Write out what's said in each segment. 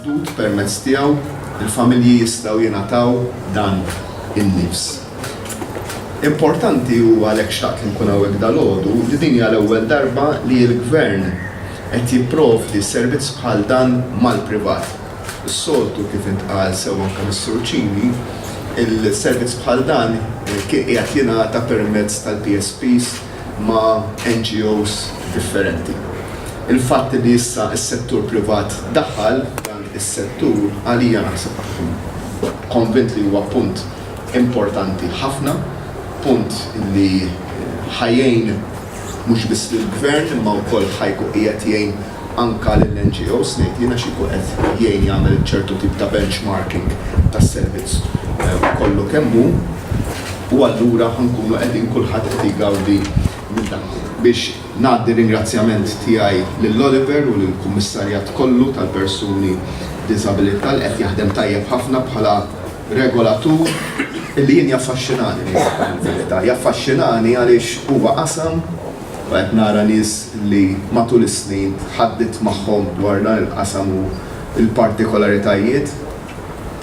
Fdut permezz tiegħu l-familji jistgħu jingħataw dan in-nifs. Importanti u għalhekk xtaqt li nkun hawnhekk dalgħodu li din hija l-ewwel darba li l-Gvern qed jipprovdi servizz bħal dan mal-privat. Is-soltu kif intqal sew anke mis-Sur Cini, il-servizz bħal dan kien qiegħed jingħata permezz tal-PSPs ma' NGOs differenti. Il-fatt li issa s-settur privat daħal f'dan is-settur għalija naħseb hu konvint li huwa punt importanti ħafna, punt li ħa jgħin mhux biss lill-Gvern imma wkoll ħa jkun qiegħed jgħin anke lill-NGOs, ngħid jiena, xi jkun qed jgħin jagħmel ċertu tip ta' benchmarking tas-servizz kollu kemm hu u allura ħa nkunu qegħdin kulħadd qed jgawdi minn dan. Biex ngħaddi r-ringrazzjament tiegħi lil Oliver u lill-Kummissarjat kollu tal-Persuni b'Diżabilità li qed jaħdem tajjeb ħafna bħala regolatur li jien jaffaxxinani ngħidilkom il-verità, jaffaxxinani għaliex huwa qasam, u qed nara nies li matul is-snin tħaddidt magħhom dwar dan il-qasam u l-partikolaritajiet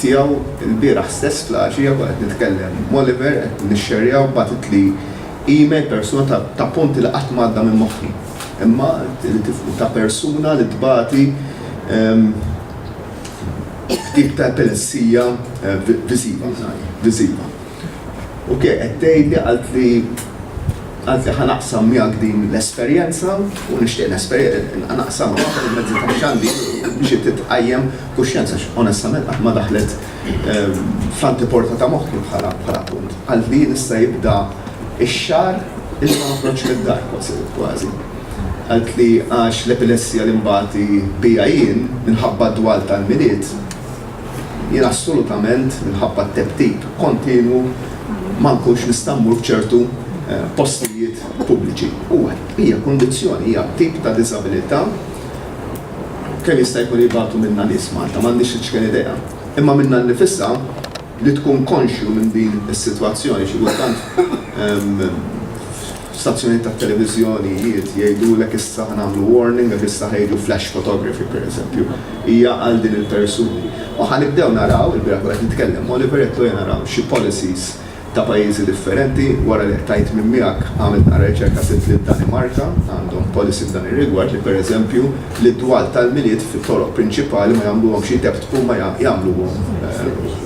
tiegħu. Ilbieraħ stess fl-għaxija kont qed nitkellem m'Oliver, qed nixxerjaw, bagħtitli email persuna ta' ta' punti li qatt m'għadda minn moħħi. Imma li tifhmu, ta' persuna li tbati b'tip ta' epilessija viżiva, viżiva. U ke qed tgħidli qaltli qaltli ħa naqsam miegħek din l-esperjenza u nixtieq nesper naqsamha permezz tax-xandir biex titqajjem kuxjenza għax onestament qatt ma daħlet fl-anteporta ta' moħħi bħala bħala punt. Qaltli jien issa jibda x-xahar illi ma noħroġx mid-dar kważi kważi. Qaltli għax l-epilessija li nbati biha jien minħabba d-dwal tal-Milied, Jien assolutament minħabba t-tebtib kontinwu ma nkunx nista' mmur f'ċertu postijiet pubbliċi. Huwa, hija kundizzjoni, hija tip ta' diżabilità. Kemm jista' jkun jibgħatu minnha nies Malta? M'għandix l-iċken idea. Imma minnha nnifisha li tkun konxju minn din is-sitwazzjoni xi kultant F'stazzjonijiet tat-televiżjonijiet jgħidulek issa ħa nagħmlu warning għax issa ħa jiġu flash photography, pereżempju. Hija għal din il-persuni. U ħa nibdew naraw, ilbieraħ kont qed nitkellem ma' Oliver għedtlu ejja naraw xi policies ta' pajjiżi differenti, wara li qtajt minn miegħek għamilt naqra riċerka sibt li d-Danimarka għandhom policy f'dan ir-rigward li pereżempju l-iddwal tal-Milied fit-toroq prinċipali ma jagħmluhomx jitebtbu ma jagħmluhom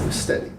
steady.